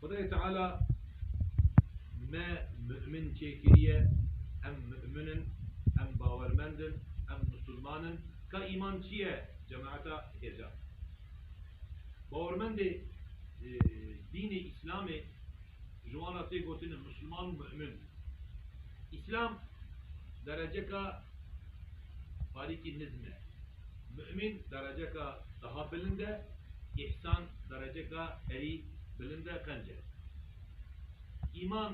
Xwedayê Teala me mu'min çêkiriye, em mu'min in, em bawermend in, em misilman in. Ka îman çi ye cemaeta gejan? Bawermendê dînê Îslamê ji wan re tê gotin misilman û mu'min. Îslam dereceka parîkî nizm e. Mu'min dereceka daha bilind e, îhsan dereceka herî bilind e, qenc e. Îman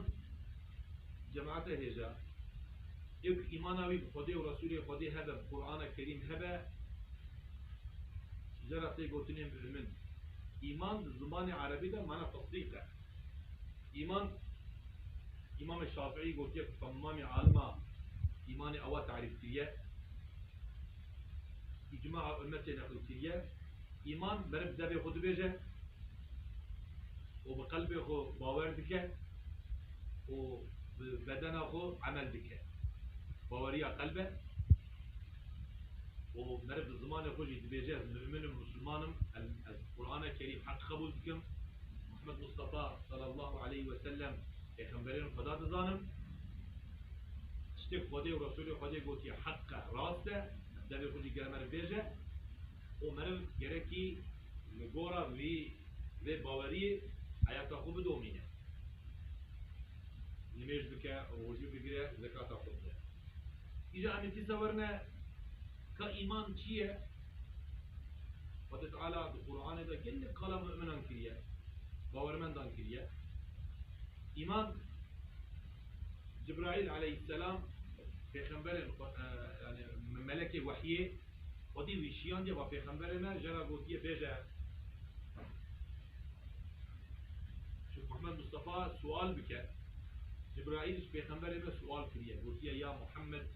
cemate hêja ê ku îmana wî bi Xwedê û Resûlê Xwedê hebe, bi Qur'ana Kerîm hebe, ji ra tê gotinê mu'min. Îman di zimanê erebî de mana tesdîq e. Îman Îmamê Şafi'î gotiye ku temamî alima îmanê ewa tarîf kiriye. Îcmaa ummetê neqilkiriye, îman meriv bi zebê xwe dibêje û bi qelbê xwe bawer dike û bi bedena xwe emel dike. Baweriya qelb e û meriv bi zimanê xwe jî dibêje ez mu'min im, musulman im, ez Qur'ane Kerîm heq qebûl dikim, Muhammed Mustafa sallallahu aleyh wesellem, pêxemberên Xweda dizanim. Tiştê Xwedê û Resûlê Xwedê gotiye heq e, rast e, em devê xwe jî gere meriv bêj e û meriv gerekî li gora vî vê baweriyê heyata xwe bidomîne, nimêj bike, rojû bigire, zekata xwe bide. Îja em ê dîsa werine. Ka îman çi ye? Xwedê Teala di Quranê de gelek kala mu'minan kiriye, bawermendan kiriye. Îman Cibraîl aleyhisselam pêxemberên xwe yani melekê wehyê Xwedî wî şiyandiye va pêxemberê me jera gotiye bêje Şêx Muhammed Mustafa sual bike. Cibraîl ji pêxemberê me sual kiriye gotiye ya Muhammed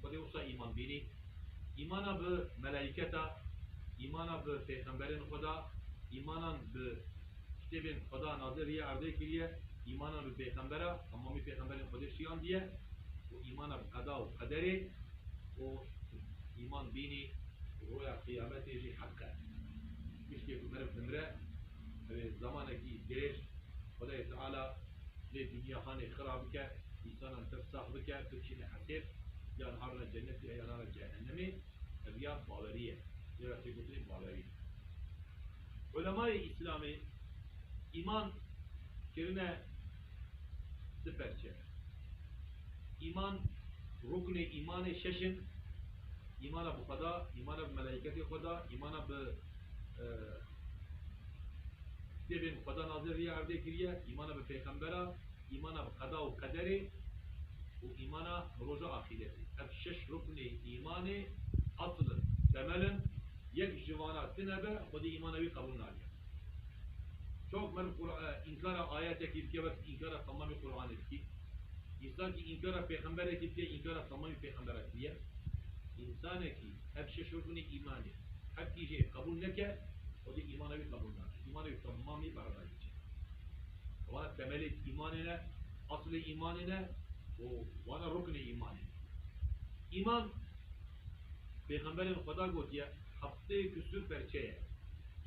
Xwedê wisa îman bînî. Îmana bi melaîketa, îmana bi pêxemberên xwe da, îmanan bi kitêbên xwe da nazil rîye erdê kiriye, îmanan bi pêxembera, hemamî pêxemberên xwedê şiyandiye û îmana bi qeda û qederê û îman bînî ku roya qiyametê jî heq e. Piştî ku meriv dimire ew ê zemanekî dirêj Xwedayê Teala, lê dinya hanê xira bike, însanan pir sax bike, biçîne heqêq, yan arna cenetê yan arna cehennemê, ev ya bawerî ye, lê ra têkotinê bawerî ye. Ulemayê Îslamê îman kirine di perçe. Îman, ruknê îmanê şeş in, îmana bi Xweda, îmana bi melaîketê Xweda, îmana bi Dê bên Xweda nazir riya erdê kiriye, îmana bi pêxembera, îmana bi qeda û qederê û îmana bi roja axîretê. Ev şeş ruknê îmanê asl in, temel in. Yek ji vana ti nebe, Xwedî îmana wî qebûl nake. Çawa ku meriv înkara ayetekî bike wek înkara temamî Quranê dikî. Însankî înkara pêxemberekî bike înkara temamî pêxembera kiriye. Însanekî. Ev şeş ruknê îmanê ye. Her kî jê qebûl neke, xwedî îmana wî qebûl nake. Îmanê wî temam nî berda hiçê. Wana temelê îmanê ne, eslê îmanê ne û wana ruknê îmanê ne. Îman pêxemberên xweda gotiye heftê kusur perçe ye.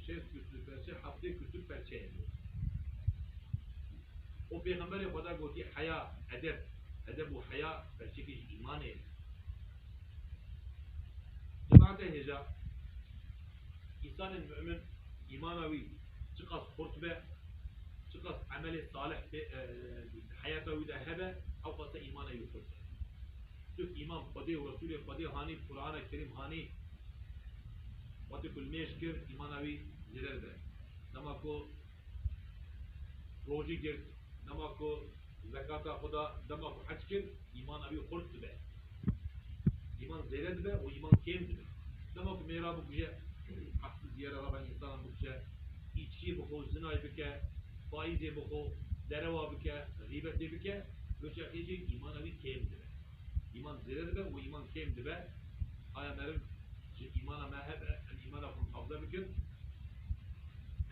Şêst kusur perçe, heftê kusur perçe ye gotiye. Û pêxemberê xweda gotiye heya, edeb, edeb û heya perçekê jî îmanê ye. Cemaetê hêja, Însanê mu'min îmana wî çiqas xurt be, çiqas emelê salih di heyata wî de hebe ewqasa îmanê wî xurt e. Çuk îman Xwedê û Resûlê Xwedê hanî, Qur'ana Kerîm hanî. Wate ku li mêj kir îmana wî zêder be. Dema ku Rojî girt, dema ku zekata xwe da, dema ku hec kir, îmana wî xurt dibe. Îman zêde dibe û îman kêm dibe. Dema ku mêra bikuje, qehti diyara rava însanan bikuje, îçkî bixwe, zinay bike, faîzê bixwe, derewa bike, xîbetê bike, doçarxê jî îmana wî kêm dibe. Îman zêde dibe û îman kêm dibe. Aye meriv ji îmana me hebe em îmana xwe mihafze bikin?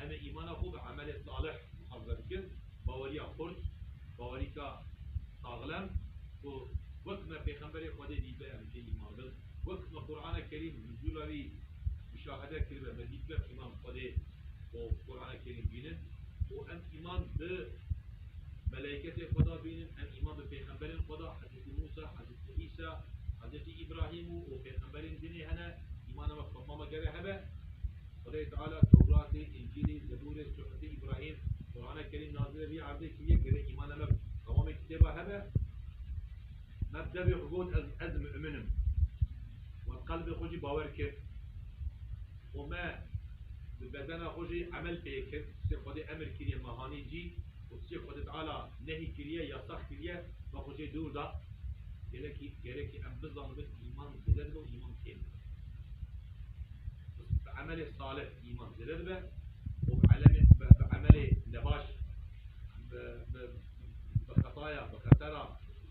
Em ê îmana xwe bi emelê salih mihafze bikin. Baweriya xurt, bawerîka saxlem ku wek me pêxemberê Xwedê dîtibe em jê îman bin. Wek me Qur'ane Kerîm nuzûla wî muşahede kiribe me dîtibe îman bi Xwedê û Qur'ane Kerîm bînin û em îman bi Melaîketê Xweda bînin em îman bi pêxemberên Xweda Hezretî Mûsa, Hezretî Îsa, Hezretî Îbrahîm û û pêxemberên dinê hene îmana me bi xwe mama gere hebe. Xwedayê Teala Tewratê, Încîlê, Zeburê, Suhufê Îbrahîm, Qurane Kerîm nazilê vî erdê kiriye gere îmana me bi dewamê kitêba hebe. Me bi devê xwe got ez ez mi'min im û bi qelbê xwe jî bawer kir. û me bi bedena xwe jî emel pê kir, tiştê Xwedê emir kiriye me anî cî û tiştê Xwedê Teala nehî kiriye, yasax kiriye, me xwe jê dûr da. Gelekî gerekî em bizanibin îman zêde dibe û îman kêm dibe. Bi emelê salih îman zêde dibe û bi elemê bi emelê nebaş bi bi bi xetaya bi xetera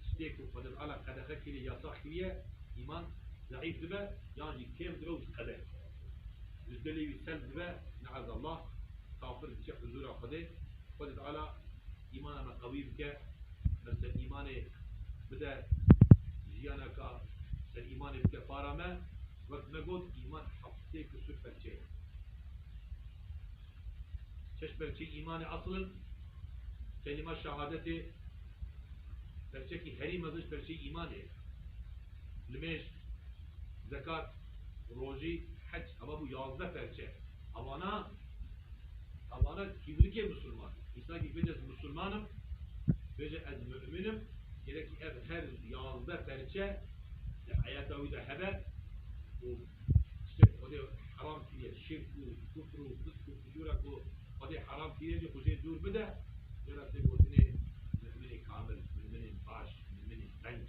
tiştê ku Xwedê Teala qedexe kiriye, yasax kiriye îman zeîf dibe yan jî kêm dibe û diqede. Ji dilê wî selb dibe me'ezallah kafir diçe huzûra Xwedê, Xwedê Teala îmana me qewî bike, me ser îmanê bide jiyaneka ser îmanê bike para me, wek me got îman heft sê kusûr pevçe ye. Şeş pevçeyê îmanê asl in, kelîma şehadetê, pevçekî herî mezin ji pevçeyê îmanê ye. nimêj, zekat, rojî, hec heva bû yazdeh perçe. Hevana hevana kîmlikê misilman. Însakî bêje ez misilman im, bêje ez mu'min im, gerekî ev her yazdeh perçe li heyata wî de hebe û tiştek Xwedê heram kiriye, şirk û kufr û fisk û fucûra ku Xwedê heram kiriye jî xwe jê dûr bide, jê re tê gotinê mu'minê kamil, mu'minê baş, mu'minê penc.